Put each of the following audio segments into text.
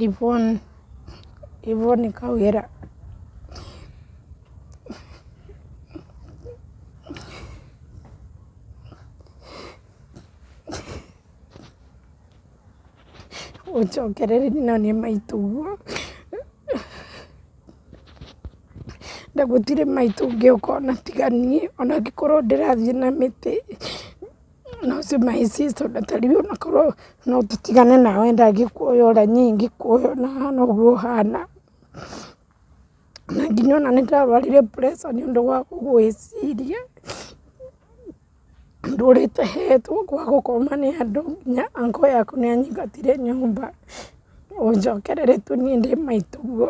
ivon ivoni kawĩra ũnjokerere nyonie maitũguo na gũtirĩ maitũ ũngĩũka ũnatiga niĩ ona ngĩkorwo ndĩrathiĩ na mĩtĩ. no simahisi tondũ ta rĩu ona korwo no tũtigane nawe ndangĩkuoya ũrĩa niĩ ingĩkuoya ona hana ũguo ũhana. Na nginya ona nĩ ndarwarire pressure nĩ ũndũ wa kũgũĩciria, ndũrĩte hetwo gwa gũkoma nĩ andũ nginya uncle yaku nĩ anyingatire nyũmba ũnjokerere tu niĩ ndĩ maitũguo.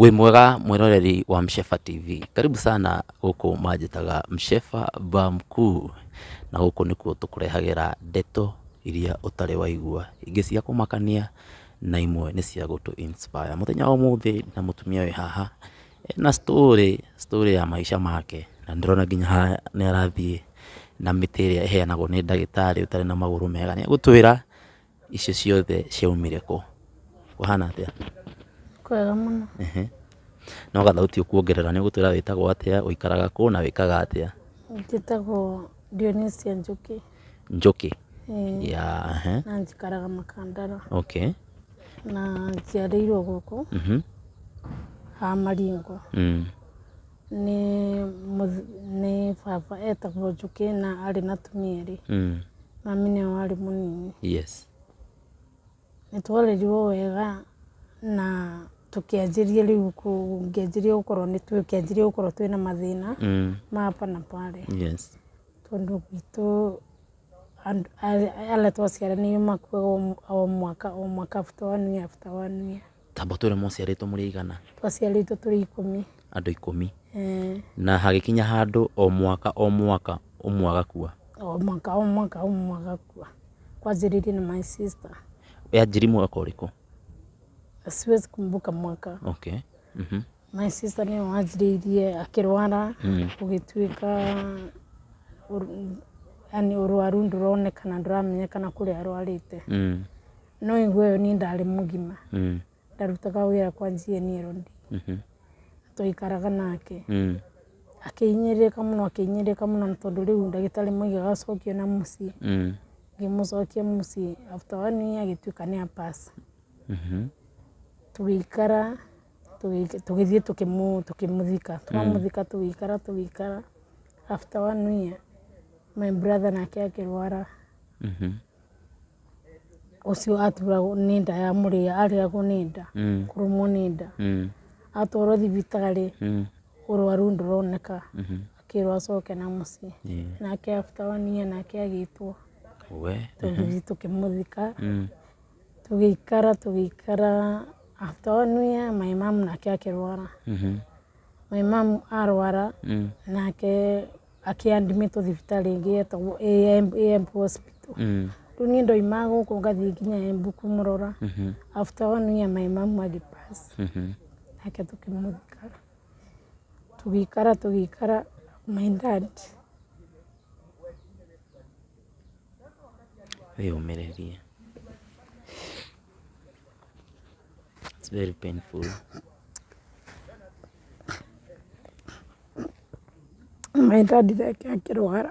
Wĩ mwega mwĩroreri wa Mshefa TV, karibu sana gũkũ manjĩtaga Mshefa ba mkuu, na gũkũ nĩkuo tũkũrehagĩra ndeto iria ũtarĩ waigua, ingĩ cia kũmakania na imwe nĩ cia gũtũ inspire. Mũthenya wa ũmũthĩ na mũtumia wĩ haha ena story, story ya maica make, na nĩ ndĩrona nginya haha nĩ arathiĩ na mĩtĩ ĩrĩa ĩheanagwo nĩ ndagĩtarĩ ũtarĩ na magũrũ mega, nĩ egũtwĩra Icio ciothe ciaumire kũ? Kũhana atĩa? Kwega mũno. Ehe. No gathauti ũkuongerera nĩ ũgũtwĩra wĩtagwo atĩa, ũikaraga kũ na wĩkaga atĩa? Njĩtagwo Dionisia Njũkĩ. Njũkĩ? Ĩĩ. Ya, ehe. Na njikaraga Makandara. Okay. Na njiarĩirwo gũkũ, ha Maringo. Nĩ mũth- nĩ baba etagwo njũkĩ na arĩ na atumia erĩ Mm. mami nĩwe warĩ mũnini Yes. nĩ twarerirwo wega na tũkĩanjĩria rĩu kũ- ngĩanjĩria gũkorwo nĩ tũkĩanjĩria gũkorwo twĩ na mathĩna Mm. ma hapa na pale Yes. tondũ gwitũ andũ- a- arĩa twaciaranĩirwo makuaga o- o mwaka o mwaka after one year after one year Tamba ũtwĩre mwaciarĩtwo mũrĩ aigana? Twaciarĩtwo tũrĩ ikũmi. Andũ ikũmi? Ĩĩ. Na hagĩkinya handũ o mwaka o mwaka ũmwe agakua? O mwaka o mwaka ũmwe agakua. Kwanjĩrĩirie na my sister. Yanjirie mwaka ũrĩkũ? Siwezi kumbuka mwaka. Okay. Mhm. My sister nĩwe wanjĩrĩirie akĩrwara gũgĩtuĩka yaani ũrwaru ndũronekana ndũramenyekana kũrĩa arwarĩte. no igue yo niĩ ndarĩ mũgima Mm. ndarutaga wĩra kwa GNL ndi Mhm. twaikaraga nake Mm. akĩhinyĩrĩrĩka mũno akĩhinyĩrĩrĩka mũno na tondũ rĩu ndagĩtarĩ moigaga acokio na mũciĩ Mm. ngĩmũcokia mũciĩ after one year agĩtuĩka nĩ apasa Mhm. tũgĩikara tũgĩ- tũgĩthiĩ tũkĩmũ- tũkĩmũthika twamũthika tũgĩikara tũgĩikara after one year my brother nake akĩrwara Mhm. ũcio aturagwo nĩ nda ya mũrĩa arĩagwo nĩ nda Mm. kũrũmwo nĩ nda Mm. atwarwo thibitarĩ Mm. ũrwaru ndũroneka Mhm. akĩrwo acoke na mũciĩ Yeah. nake after one year nake agĩtwo We. tũgĩthiĩ tũkĩmũthika Mm. tũgĩikara tũgĩikara after one year my mom nake akĩrwara Mhm. my mom arwara Mm. nake akĩandimĩtwo thibitarĩ ĩngĩ yetagwo AMP hospital Mm. rĩu niĩ ndoima gũkũ ngathiĩ nginya embu kũmũrora Mhm. after one year my mom agĩpass Mhm. nake tũkĩmũthika tũgĩikara tũgĩikara my dad Wĩyũmĩrĩrie. It's very painful. Maĩ ndandire ngĩrwara,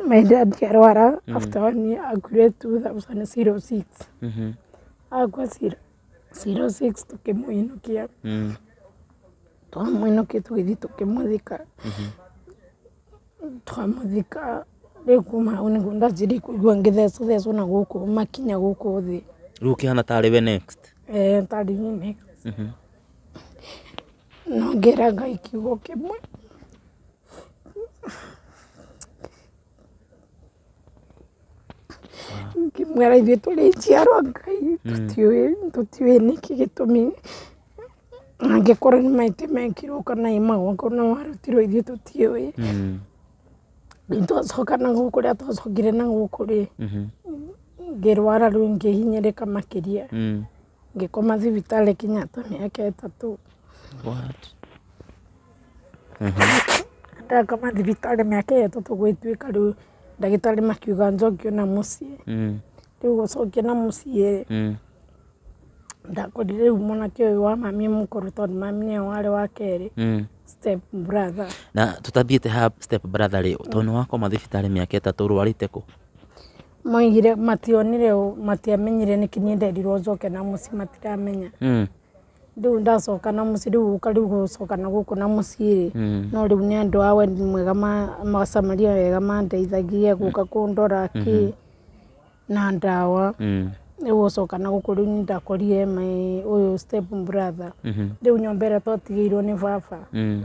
maĩ ndandi arwara after one year akuire two thousand zero six. Akua zero six tũkĩmũinũkia, twamũinũkia tũgĩthiĩ tũkĩmũthika. twamũthika rĩu kuma hau nĩguo ndathiĩ kũigua ngĩthecũthecwo na gũkũ makinya gũkũ thĩ rĩu ũkĩhana tarĩ we next eh, tarĩ niĩ next Mhm. no ngera ngai kiugo kĩmwe ngĩmwĩra ithuĩ tũrĩ njiarwa ngai tũtiũĩ tũtiũĩ nĩkĩ gĩtũmi angĩkorwo nĩ maitĩ mekirwo kana ĩ magongona warutirwo ithuĩ tũtiũĩ Mm. nĩtwacoka na gũkũ rĩa twacokire na gũkũ rĩ ngĩrwara rĩu ngĩhinyĩrĩka makĩria Mm. Ngĩkoma thibitarĩ Kenyatta mĩaka ĩtatũ. What? Ndakoma thibitarĩ mĩaka ĩyo ĩtatũ gũgĩtuĩka rĩu ndagĩtarĩ makiuga njokio na mũciĩ. Mm. Rĩu gũcokia na mũciĩ Mm. ndakorire rĩu mwanake ũyũ wa mami mũkũrũ tondũ mami nĩwe warĩ wa kerĩ Mm. step brother. na tũtathiĩte ha step brother rĩ tondũ nĩ wakoma thibitarĩ mĩaka ĩtatũ ũrwarĩte kũ Moigire mationire ũũ, matiamenyire nĩkĩ niĩ nderirwo njoke na mũciĩ matiramenya. Mm. Rĩu ndacoka na mũciĩ rĩu gũka rĩu gũcoka na gũkũ na mũciĩ rĩ, no rĩu nĩ andũ a wendi mwega ma ma Samaria wega mandeithagia gũka kũndora kĩ na ndawa. Mm. Rĩu gũcoka na gũkũ rĩu nĩ ndakorire my ũyũ step brother. Rĩu nyũmba ĩrĩa twatigĩirwo nĩ baba Mm.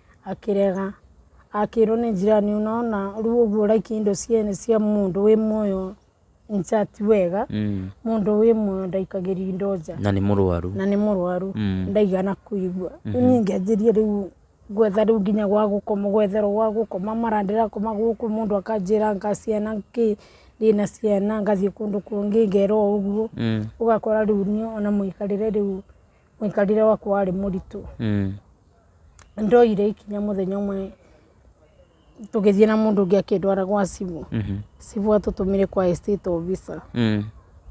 akĩrega, akĩrwo nĩ njirani ũnona rĩu ũguo ũraikia indo ciene cia mũndũ wĩ muoyo in fact ti wega, Mm. mũndũ wĩ muoyo ndaikagĩria indo nja na nĩ mũrwaru na nĩ mũrwaru Mm. ndaigana kũigua rĩu niĩ ngĩanjĩria rĩu gwetha rĩu nginya gwa gũkoma gwetherwo gwa gũkoma mara ndĩrakoma gũkũ mũndũ akanjĩra nga ciana kĩ ndĩna ciana ngathiĩ kũndũ kũngĩ ngerwo ũguo Mm. ũgakora rĩu niĩ ona mũikarĩre rĩu mũikarĩre wakwa warĩ mũritũ Mm. Nĩ ndoire ikinya mũthenya ũmwe tũgĩthiĩ na mũndũ ũngĩ akĩndwara gwa cibũ. Cibũ atũtũmire kwa estate officer. Mm.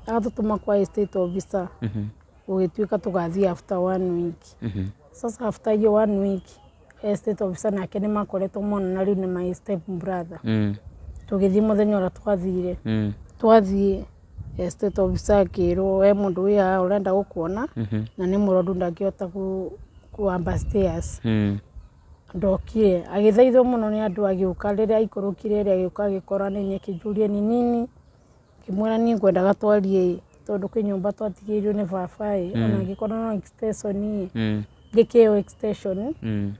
Atũtũma kwa estate officer gũgĩtuĩka tũgathiĩ after one week. Sasa after hiyo one week estate officer nake nĩ makoretwo monana rĩu nĩ my step brother. Mm. Tũgĩthiĩ mũthenya ũrĩa twathire Mm. twathiĩ Estate officer akĩrwo we mũndũ wĩ haha ũrenda gũkuona na nĩ mũrwaru ndangĩhota ku- kwamba stairs Mm. ndokire agĩthaithwo mũno nĩ andũ agĩũka rĩrĩa aikũrũkire rĩ agĩũka agĩkora nĩ nyeki njũrie nĩ nini ngĩmwĩra niĩ ngwendaga twarie ĩ, tondũ kwĩ nyũmba twatigĩirwo nĩ baba ĩ ona ngĩkorwo no extension ĩ Mm. ngĩkĩo extension Mm.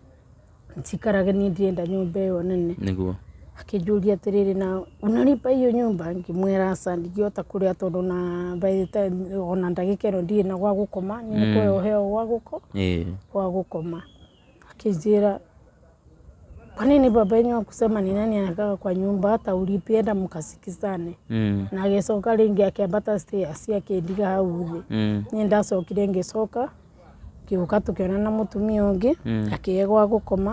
njikarage niĩ ndirenda nyũmba ĩyo nene. Nĩguo. Akĩnjũria atĩrĩrĩ na ũnalipa hiyo nyũmba? Ngĩmwĩra aca ndingĩhota kũrĩha tondũ na by the time ona ndagĩka ĩno ndirĩ na gwa gũkoma, nĩ mm. kũheo heo gwa gũko gwa gũkoma. Akĩnjĩra kwa nini baba yenyu akusema ni nani anakaa kwa nyumba hata ulipienda mkasikizane mm. na agĩcoka rĩngĩ akĩambata stairs akĩndiga hau thĩ mm. niĩ ndacokire ngĩcoka ngĩũka tũkĩona na mũtumia ũngĩ akĩhe gwa gũkoma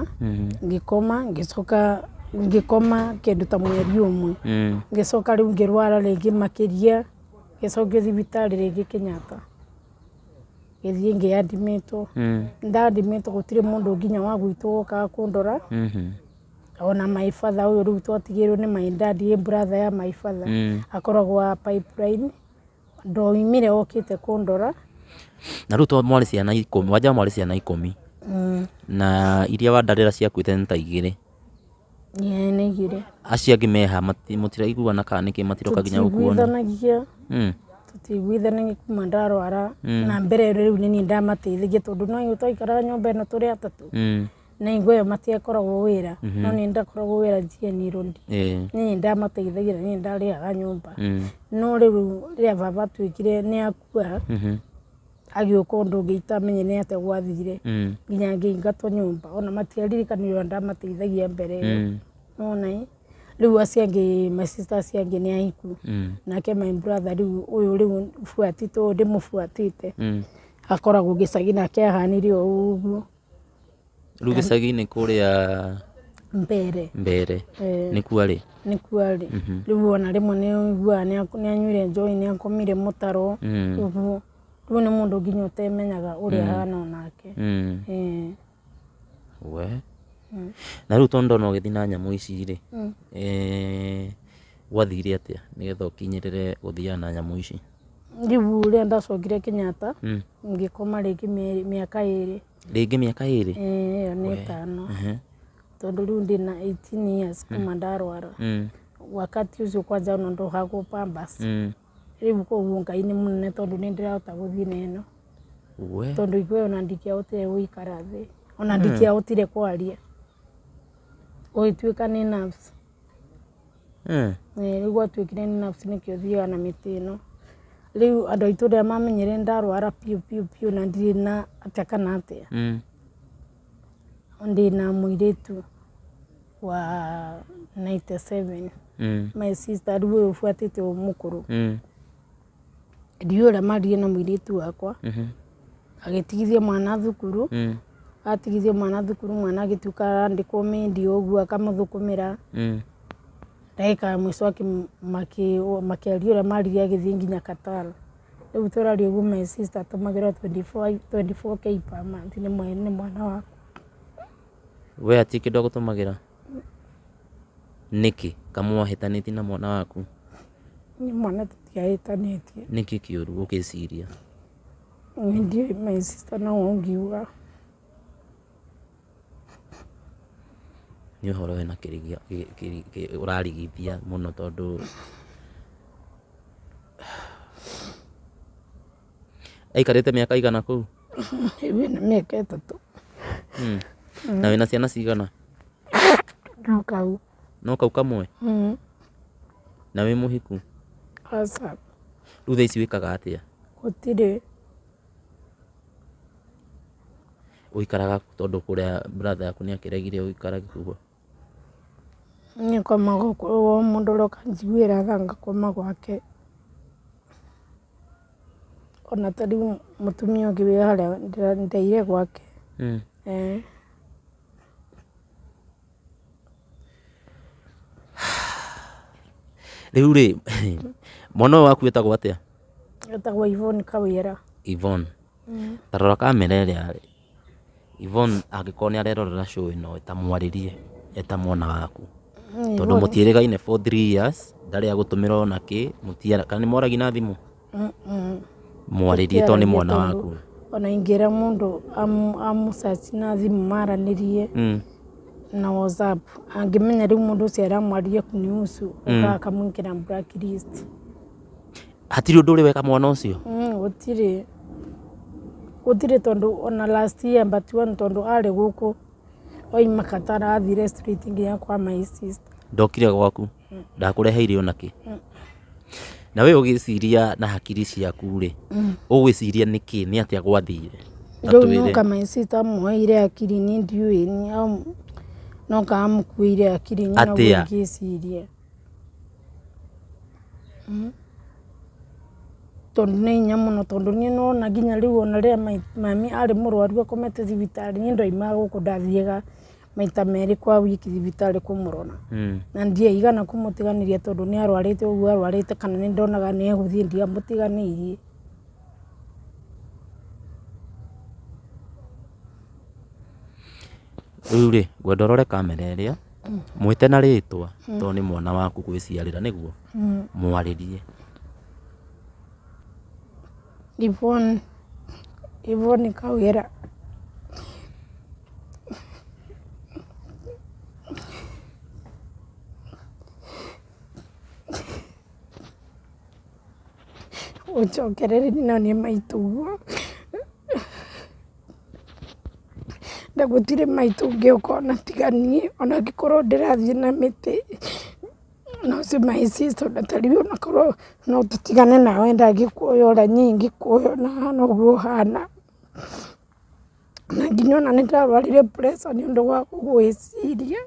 ngĩkoma ngĩcoka ngĩkoma kĩndũ ta mweri ũmwe ngĩcoka rĩu ngĩrwara rĩngĩ makĩria ngĩcokio thibitarĩ rĩngĩ Kenyatta ngĩthiĩ ngĩ admit wo nda admit wo gũtirĩ mũndũ nginya wa gwitũ wokaga kũndora ona my father ũyũ rĩu twatigĩirwo nĩ my dad ĩ brother ya my father akoragwo wa pipeline. Ndoimire okĩte kũndora. Na rĩu to mwarĩ ciana ikũmi, wanja mwarĩ ciana ikũmi. Mm. Na iria wandarĩra ciakuĩte nĩ ta igĩrĩ. Yeah, nĩ igĩrĩ. Acio angĩ meha, mati- mũtiraiguana kana nĩkĩ matiroka nginya gũkuona. Tũtiguithanagia Mm. tũtiguithanagia kuma ndarwara na mbere rĩu nĩ niĩ ndamateithagia tondũ no ithuĩ twaikara nyũmba ĩno tũrĩ atatũ Mm. na hingo ĩyo matiakoragwo wĩra mm -hmm. no nĩ ndakoragwo wĩra GNI Road yeah. niĩ ndamateithagia niĩ ndarĩhaga nyũmba mm. no rĩu rĩrĩa baba atuĩkire nĩ akua mm -hmm agĩũka ũndũ ũngĩ itamenye nĩ atĩa gwathire mm. nginya ngĩingatwo nyũmba ona matiaririkanire ona ndamateithagia mbere ĩyo mm. nona rĩu acio angĩ my sister acio angĩ nĩ ahiku mm. nake my brother rĩu ũyũ rĩu buatĩte ũyũ ndĩmũbuatĩte akoragwo gĩcagi nake ahanire o ũguo rĩu gĩcagi-inĩ kũrĩa mbere mbere Eh. nĩ kwarĩ nĩ kwarĩ rĩu ona rĩmwe nĩ ũiguaga nĩ ak- nĩ anyuire njohi nĩ akomire mũtaro Mm. ũguo rĩu nĩ mũndũ nginya ũtemenyaga ũrĩa ahana onake Mm. Eh, we na rĩu tondũ ndona ũgĩthiĩ na nyamũ ici rĩ eh, gwathire atĩa nĩgetha ũkinyĩrĩre gũthiaga na nyamũ ici Rĩu rĩrĩa ndacokire Kenyatta, ngĩkoma rĩngĩ mĩaka ĩrĩ. Rĩngĩ mĩaka ĩrĩ? Ĩĩ ĩyo nĩ ĩtano. Tondũ rĩu ndĩ na eighteen years kuma ndarwara. Wakati ũcio kwanja ona ndohagwo pampers. Rĩu koguo Ngai nĩ mũnene tondũ nĩ ndĩrahota gũthiĩ na ĩno. Tondũ ithuĩ ona ndingĩahotire gũikara thĩ. Ona ndingĩahotire kwaria. Gũgĩtuĩka nĩ nurse. Rĩu gwatuĩkire nĩ nurse nĩkĩo thiaga na mĩtĩ ĩno. Rĩu andũ a itũũra rĩrĩa mamenyire nĩ ndarwara biũ biũ biũ na ndirĩ na atĩa kana atĩa, ndĩ na mũirĩtu wa ninety seven, my sister rĩu ũyũ ũbuatĩte ũyũ mũkũrũ. ndiũra mariĩ na mũirĩtu wakwa Mhm. agĩtigithia mwana thukuru Mm. atigithia mwana thukuru mwana agĩtuĩka arandĩkwo mendi ũguo akamũthũkũmĩra Mm. ndagĩka ya mũico akĩ- makĩ- makĩaria ũrĩa maririe agĩthiĩ nginya katara rĩu tũraria ũguo my sister atũmagĩra 24 24k per month nĩ mwe- nĩ mwana wakwa we hatirĩ kĩndũ agũtũmagĩra Nĩkĩ kamũa hĩtanĩtie na mwana waku? Nĩ mwana tũtiahĩtanĩtie. Nĩkĩ kĩũru ũgĩciria? Nĩ ndiũĩ my sister no ũngiuga. Nĩ ũhoro wĩna kĩrĩgĩo ũrarigithia mũno tondũ aikarĩte mĩaka ĩigana kũu? Hihi nĩ mĩaka ĩtatũ. Mm. Na wĩna ciana cigana? No kau. No kau kamwe? Mm. Na wĩ mũhiku? Aca. Rĩu thaa ici wĩkaga atĩa? Gũtirĩ. Ũikaraga tondũ kũrĩa brother yaku nĩ akĩregire ũikarage kuo? Niĩ ngoma gũkũ o mũndũ ũroka anjiguĩra tha ngakoma gwake. Ona ta rĩu mũtumia ũngĩ wĩ harĩa ndeire gwake. Rĩu rĩ, mwana ũyũ waku etagwo atĩa? Etagwo Yvonne Kawĩra. Yvonne. Ta rora kamera ĩrĩa. Yvonne angĩkorwo nĩ arerorera show ĩno ĩĩ ta mwarĩrie e ta mwana waku tondũ mũtiĩrĩgaine for three years ndarĩ agũtũmĩra ona kĩ mũtiara kana nĩ mwaragia na thimũ mwarĩrie tondũ nĩ mwana waku ona ingĩra mũndũ amu- amũcaci na thimũ maranĩrie Mm. na whatsapp angĩmenya rĩu mũndũ ũcio aramwarĩria kũnihusu ũkaga akamwĩkĩra blacklist hatirĩ ũndũ ũrĩ weka mwana ũcio Mm, gũtirĩ gũtirĩ tondũ ona last year mbatiwa nĩ tondũ arĩ gũkũ oima katara athire street nginya kwa my sister ndokire gwaku ndakũreheire ona kĩ na we ũgĩciria na hakiri ciaku rĩ ũgwĩciria nĩ kĩ nĩ atĩa gwathire Ta rĩu twĩre. noka my sister amuoire akiri nĩ ndiũĩ nĩ au- noka amukuĩire akiri nyina Atĩa? ngĩciria Tondũ nĩ hinya mũno tondũ nĩ ũrona nginya rĩu ona rĩrĩa mami arĩ mũrwaru akomete thibitarĩ niĩ ndaimaga gũkũ ndathiaga maita merĩ kwa wiki thibitarĩ kũmũrora. Na ndiaigana kũmũtiganĩria tondũ nĩ arwarĩte ũguo arwarĩte kana nĩ ndonaga nĩ egũthiĩ ndiamũtiganĩirie. Rĩu rĩ ngwenda ũrore kamera ĩrĩa. Mwĩte na rĩtwa tondũ nĩ mwana waku gwĩciarĩra nĩguo? Mwarĩrie. Yvonne, Yvonne Kawĩra. Ũnjokererie na niĩ maitũguo. Na gũtirĩ maitũ ũngĩ ũkoragwo na tiga niĩ, o na angĩkorwo ndĩrathiĩ na mĩtĩ, no ũcio my sister o na ta rĩu onakorwo no tũtigane na we ndangĩkuoya ũrĩa niĩ ingĩkuoya o na hana ũguo hana. Na nginya o na nĩ ndarwarire pressure nĩ ũndũ wa kũgũĩciria.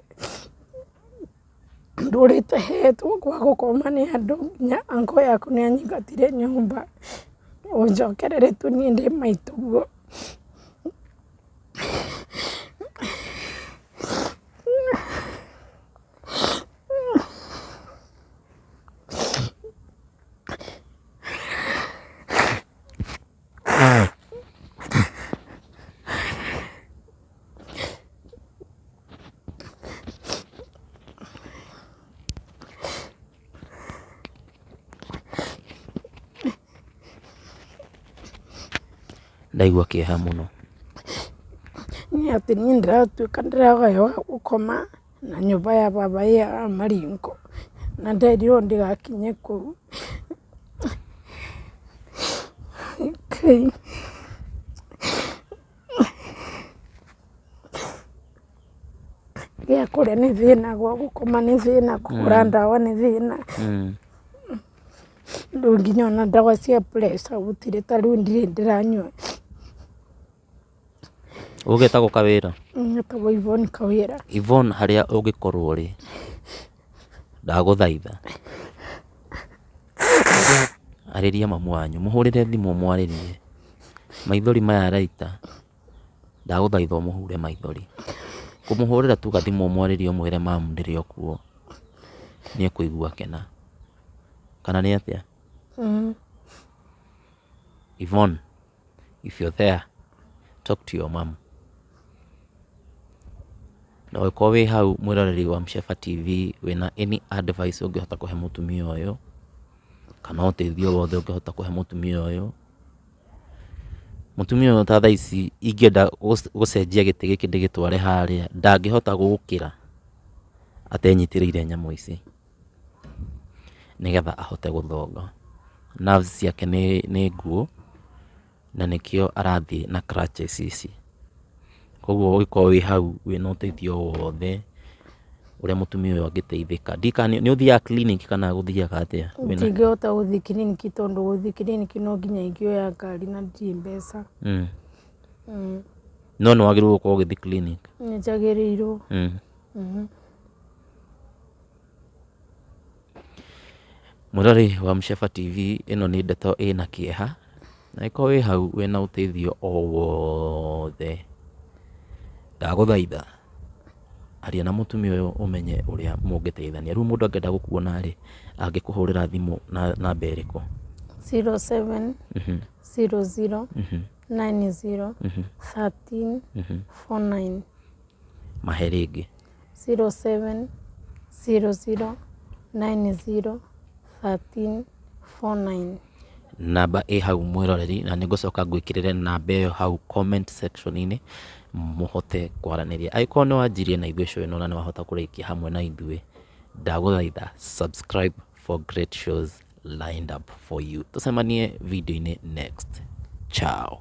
ndũrĩte hetwo gwa gũkoma nĩ andũ nginya uncle yakwa nĩ anyingatire nyũmba ũnjokerere tu niĩ ndĩ maitũguo. ndaigua kĩeha mũno. Nĩ atĩ niĩ ndĩratuĩka ndĩragaya wa gũkoma. na nyũmba ya baba ĩ ya Maringo, na nderirwo ndĩgakinye kũu. Gĩa kũrĩa nĩ thĩna, gwa gũkoma nĩ thĩna, kũgũra ndawa nĩ thĩna, rĩu nginya ona ndawa cia pressure gũtirĩ, ta rĩu ndirĩ ndĩranyua. Ũgĩtagwo Kawĩra? Njĩtagwo Yvonne Kawĩra. Yvonne harĩa ũngĩkorwo rĩ, ndagũthaitha arĩria mamu wanyu, mũhũrĩre thimũ ũmwarĩrie. Maithori maya araita, ndagũthaitha ũmũhure maithori. Kũmũhũrĩra tu gathimũ ũmwarĩrie ũmwĩre mamu ndĩrĩ o kuo, nĩ ekũigua akena. Kana nĩ atĩa? Yvonne. if you're there talk to your mom na ũngĩkorwo wĩ hau mwĩroreri wa Msheba TV wĩna any advice ũngĩhota kũhe mũtumia ũyũ kana ũteithio wothe ũngĩhota kũhe mũtumia ũyũ mũtumia ũyũ ta thaa ici ingĩenda gũc- gũcenjia gĩtĩ gĩkĩ ndĩgĩtware harĩa ndangĩhota gũkĩra atenyitĩrĩire nyamũ ici nĩgetha ahote gũthonga. Nerves ciake nĩ nĩ nguũ, na nĩkĩo arathiĩ na crutches ici. Koguo ũngĩkorwo wĩ hau wĩna ũteithio o wothe ũrĩa mũtumia ũyũ angĩteithĩka, ndiũĩ kana nĩ ũthiaga clinic kana gũthiaga atĩa? wĩna- Ndingĩhota gũthiĩ clinic tondũ gũthiĩ clinic no nginya ingĩoya ngari na ndirĩ mbeca. Mm. Mm. No nĩ wagĩrĩirwo gũkorwo ũgĩthiĩ clinic. Nĩ njagĩrĩirwo. Mm. Mhm. Mwĩroreri wa Msheba TV, ĩno nĩ ndeto ĩna kĩeha, na angĩkorwo wĩ hau wĩna ũteithio o wothe, ndagũthaitha aria na mũtumia ũyũ ũmenye ũrĩa mũngĩteithania. Rĩu mũndũ angĩenda gũkuona rĩ, angĩkũhũrĩra thimũ na namba ĩrĩkũ? zero seven zero zero nine zero thirteen four nine. Mahe rĩngĩ. Zero, seven, zero, zero, nine, zero, thirteen, four, nine. Namba ĩ hau mwĩroreri na nĩ ngũcoka ngwĩkĩrĩre namba ĩyo hau comment section inĩ mũhote kwaranĩria. Angĩkorwo nĩ wanjirie na ithuĩ show ĩno na nĩ wahota kũrĩkia hamwe na ithuĩ, ndagũthaitha subscribe for great shows lined up for you. Tũcemanie video-inĩ next. Ciao.